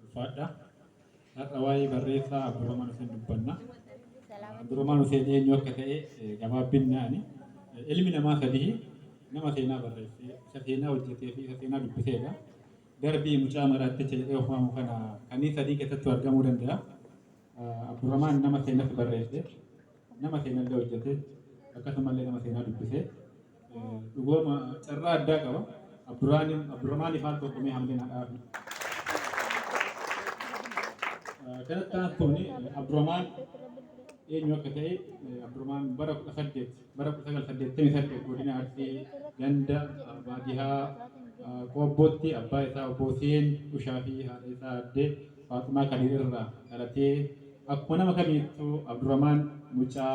Ulfaadha. Har'a waa'ee barreessaa Abdurrahman Huseen dubbanna. Abdurrahman Huseen eenyu akka ta'e gabaabinnaani. Ilmi namaa sadii nama seenaa barreesse, isa seenaa hojjetee fi isa seenaa dubbiseedha. Darbii mucaa maraatticha jedhee of waamu kana kanneen sadii keessattuu argamuu danda'a. Abdurrahman nama seenas barreesse, nama seenallee hojjete, akkasumallee nama seenaa dubbise. Dhugooma carraa addaa qaba. Abduraanim Abduramaani faan tokko mee hamleen hadhaafi. Kanatti aantuun Abduramaan eenyu akka ta'e Abduramaan bara 18 bara 1988 godina Arsii ganda baadiyaa Qoobbootti abbaa isaa obbo Huseen Ushaa fi haadha isaa addee Faaxumaa Kadiir irraa dhalatee akkuma nama kamiittuu Abduramaan mucaa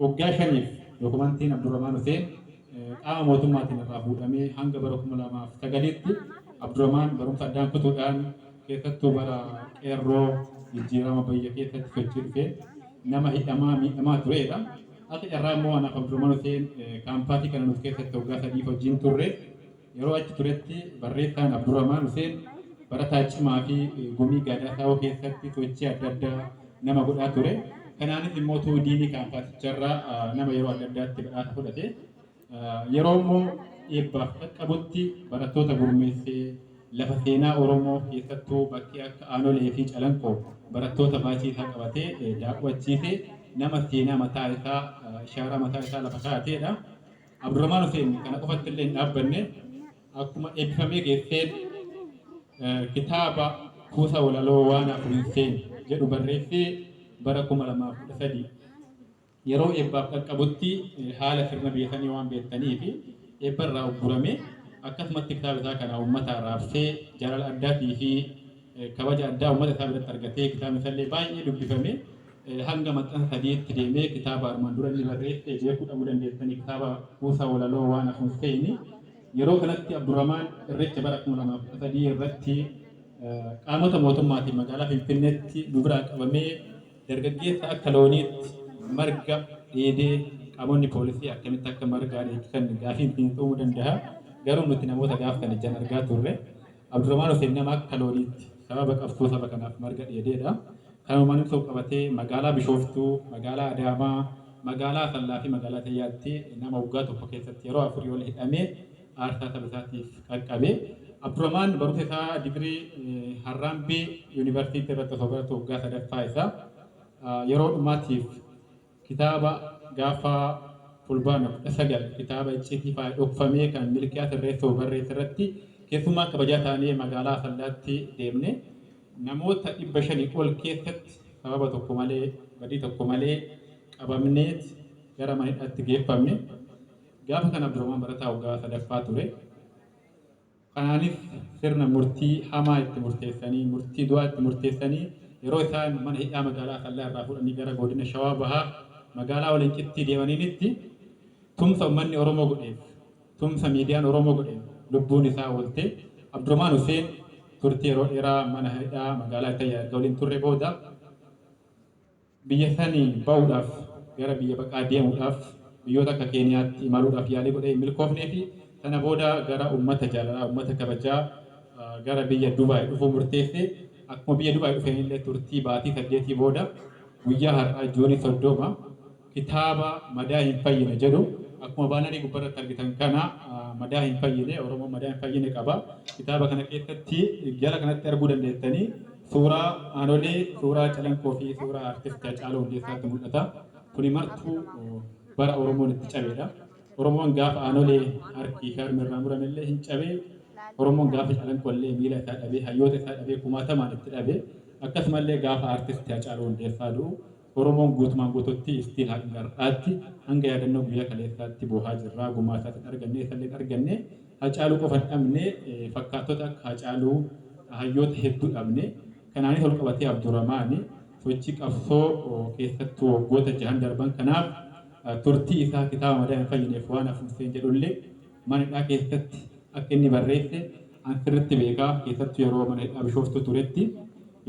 Waggaa shaniif dokumantiin Abduramaan Huseen qaama mootummaatiin irraa fuudhamee hanga bara 2009tti Abduramaan barumsa addaan kutuudhaan keessattuu bara Qeerroo jijjiirama bayya keessatti sochii dhufeen nama hidhamaa miidhamaa tureedha. Akka carraa immoo anaaf Abduramaan Huseen kaampaasii kana nuuf keessatti waggaa sadiif wajjin turre. Yeroo achi turetti barreessaan Abduramaan Huseen barataa cimaa fi gumii Gaadaa Saawoo keessatti sochii adda addaa nama godhaa ture. Kanaanis immoo tuu diinii kaampaasicharraa nama yeroo adda addaatti badhaasa fudhate. Yeroo immoo eebbaaf qaqqabutti barattoota gurmeessee lafa seenaa Oromoo keessattuu bakkee akka Aanolee fi Calanqoo barattoota baachii isaa qabatee daawwachiise nama seenaa mataa isaa, ishaaraa mataa isaa lafa kaa'ateedha. Abdurahmaan Huseen kana qofatti illee hin dhaabbanne akkuma eebbifamee geesseen kitaaba kuusa walaloo Waan Hafu Hin Seenu jedhu barreessee bara 2013 yeroo eebbaaf dhaqqabutti haala sirna biyya sanii waan beektaniif eebba irraa uggurame akkasumatti kitaaba isaa kana uummataa raabsee jaalala addaatii fi kabaja addaa uummata isaa biratti argatee kitaabni isaa illee baay'ee dubbifame. Hanga maxxansa sadiitti deemee kitaaba armaan dura inni barreesse beekuu dhabuu dandeettani. Kitaaba kuusaa walaloo Waan Hafuun Seeni. Yeroo kanatti Abdurramaan Irreecha bara 2013 irratti qaamota mootummaatiin magaalaa Finfinneetti nu biraa qabamee dargaggeessa akka looniitti marga dheedee qaamonni poolisii akkamitti akka margaa dheechisan gaafiin siin uumuu dandaha. Garuu nuti namoota gaaf sana ijaan argaa turre. Abdurahmaan Huseen nama akka looniitti sababa qabsoo saba kanaaf marga dheedeedha. Kanumaan wal qabatee magaalaa Bishooftuu, magaalaa Adaamaa, magaalaa Asallaa fi magaalaa Tayyaatti nama waggaa tokko keessatti yeroo afurii ol hidhamee aarsaa saba isaatiif qaqqabe. Abdurahmaan barumsa isaa digirii Harraambee Yuunivarsiitii irratti osoo baratu waggaa sadaffaa isaa yeroo dhumaatiif. Kitaaba gaaffa Fulbaana 19 kitaaba icciitii faaya dhokfamee kan Milkiyaas Irreessoo barreesse irratti keessummaa kabajaa taanee magaalaa Asallaatti deemne. Namoota 500 ol keessatti sababa tokko malee, badii tokko malee qabamneet gara mana hidhaatti geeffamne. Gaafa sana Abdurahmaan barataa waggaa 3ffaa ture. Kanaanis sirna murtii hamaa itti murteessanii, murtii du'aa itti murteessanii yeroo isaan mana hidhaa magaalaa Asallaa irraa fuudhanii gara godina Shawaa Bahaa magaalaa Walancittii deemaniinitti tumsa ummanni Oromoo godheef, tumsa miidiyaan Oromoo godheen lubbuun isaa oolte. Abdurahmaan Huseen turtii yeroo dheeraa mana hidhaa magaalaa Ittayyaa erga waliin turre booda, Biyya sanii bahuudhaaf gara biyya baqaa deemuudhaaf biyyoota akka Keeniyaatti imaluudhaaf yaalii godhee hin milkoofneefi sana booda gara ummata jaalalaa, ummata kabajaa gara biyya Dubaay dhufuu murteesse. Akkuma biyya Dubaay dhufeenillee turtii baatii saddeetii booda guyyaa har'aa Juunii 30 kitaaba Madaa hin fayyine jedhu akkuma baanarii gubbarratti argitan kana Madaa hin fayyine, Oromoon Madaa hin fayyine qaba. Kitaaba kana keessatti jala kanatti arguu dandeettanii. Suuraa Aanolee, suuraa Calanqoo fi suuraa Artist Hacaaluu Hundeessaatu mul'ata. Kuni martuu bara Oromoon itti cabeedha. Oromoon gaafa Aanolee harki fi harmi irraa murame illee hin cabe. Oromoon gaafa Calanqoo illee miila isaa dhabee, hayyoota isaa dhabee, kumaatamaan itti dhabe. Akkasuma illee gaafa Artist Hacaaluu Hundeessaa du'u Oromoon guutumaan guutuutti still hanga har'aatti hanga yaadannoo guyyaa kaleessaatti boohaa jirraa gumaa isaas hin arganne eessallee hin arganne Hacaaluu qofa hin dhabne fakkaattota akka Hacaaluu hayyoota hedduu dhabne kanaanis walqabatee Abduramaani sochii qabsoo keessattuu waggoota jahan darban kanaaf turtii isaa kitaaba madaa hin fayyineef waan hafuun seen jedhullee mana hidhaa keessatti akka inni barreesse An sirritti beeka keessattu yeroo mana hidhaa bishooftuu turetti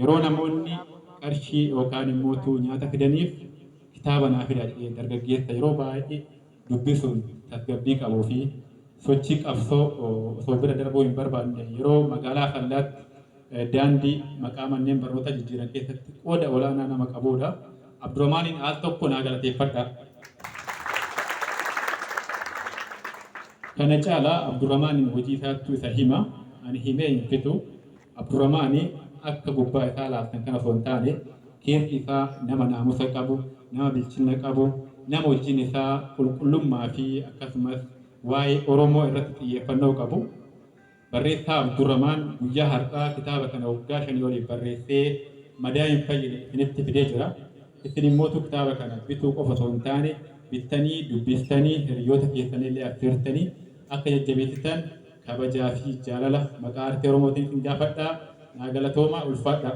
yeroo namoonni qarshii yookaan immoo tuu nyaata fidaniif kitaaba naa fidaa jedhee dargaggeessa yeroo baay'ee dubbisuun tasgabbii qabuu fi sochii qabsoo osoo bira darbuu hin barbaanne yeroo magaalaa Asallaatti daandii maqaa manneen barnootaa jijjiiran keessatti qooda olaanaa nama qabuudha. Abduramaaniin al tokko naa galateeffadha. Kana caala Abduramaaniin hojii isaattu isa hima. Ani himee hin fixu. Abduramaani akka gubbaa isaa laaltan kana osoo hin taane keessi isaa nama naamusa qabu, nama bilchinna qabu, nama hojiin isaa qulqullummaa fi akkasumas waa'ee Oromoo irratti xiyyeeffannoo qabu. Barreessaa Abdurramaan guyyaa har'aa kitaaba kana waggaa shanii oliif barreessee madaa hin fayyine isinitti fidee jira. Isin immootu kitaaba kana bituu qofa osoo hin taane bittanii dubbistanii hiriyyoota keessanillee affeertanii akka jajjabeessitan kabajaa fi jaalala maqaa Artii Oromootiin isin gaafadha. Naa galatoomaa, ulfaadhaa!